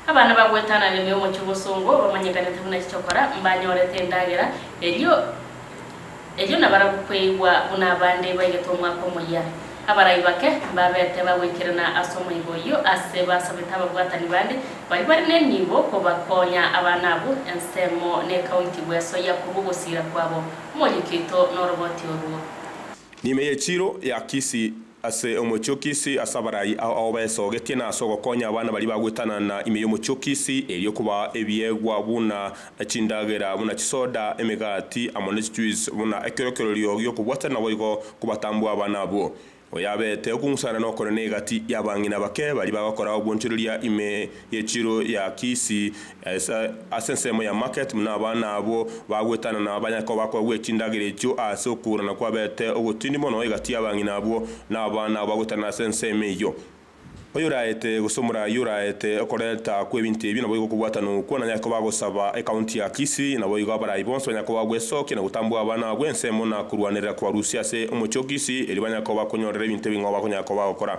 Abana bagoetana rende omochie bosongo, bamanyekanete buna chichokora, mbanyorete endagera, erio erio nabarabwo kweigwa buna abande baigete omwaka omoyia. Abarai bake mbabete bagoikerana ase omoigo oyio ase basabete ababwatani bande baria bare nenibo kobakonya abana abwo, ensemo nekaunti bwesoyia korwa ogosiira kwabo. Omoyio oito noroboti orwo. Nime ye chiro ya Kisii. Ase omochie-o-kisi, ase abarai ao ao baesogetie, na ase ogokonya abana baria bagwetana na ime y'omochie-o-kisi, erio okoba ebiegwa buna chindagera, buna chisoda, emegati, amo ne chichuis, buna ekerokererio gi'okobwatana naboigo kobatambua abana abwo. Oyabete okong'usana nokorene egati y'abang'ina bake baria bagokora obwonchoreria ime ye chiro ya kisi Ase ensemo ya market buna abana abwo bagwetana na abanyakoba kogwia chindagera echio ase okourana kwabete ogotindi mono egati abang'ina abwo na abana abo bagwetanire ase ensemo eyio. Oyoraete gose omoraai oraete okorenta kw'ebinto ebio naboigo okobwatana okwo na Nyakoba agosaba ecounty ya Kisii naboigo abaraai bonsi banyakoba gwesokia na gotambua abana abwo ensemo na korwanerera kobarusia ase omochie o Kisii erio banyakoba konyorera ebinto ebing'oba konyakoba gokora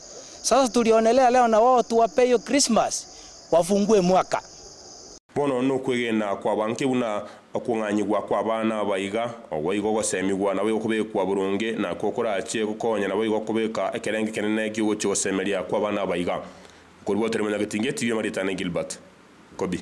Sasa tulionelea leo na wao tuwape hiyo Christmas wafungue mwaka. Bono nokwegena kwabo anke buna okong'anyigwa kw'abana aba iga, oboigo ogosemigwa naboigo kobekwa boronge, na ko korache gokonya naboigo kobeka ekerengo ekenene gi'ogochia ogosemeria kw'abana aba iga. Okorua tore monyagetinge tibia maritan'e Gilbert. Kobi.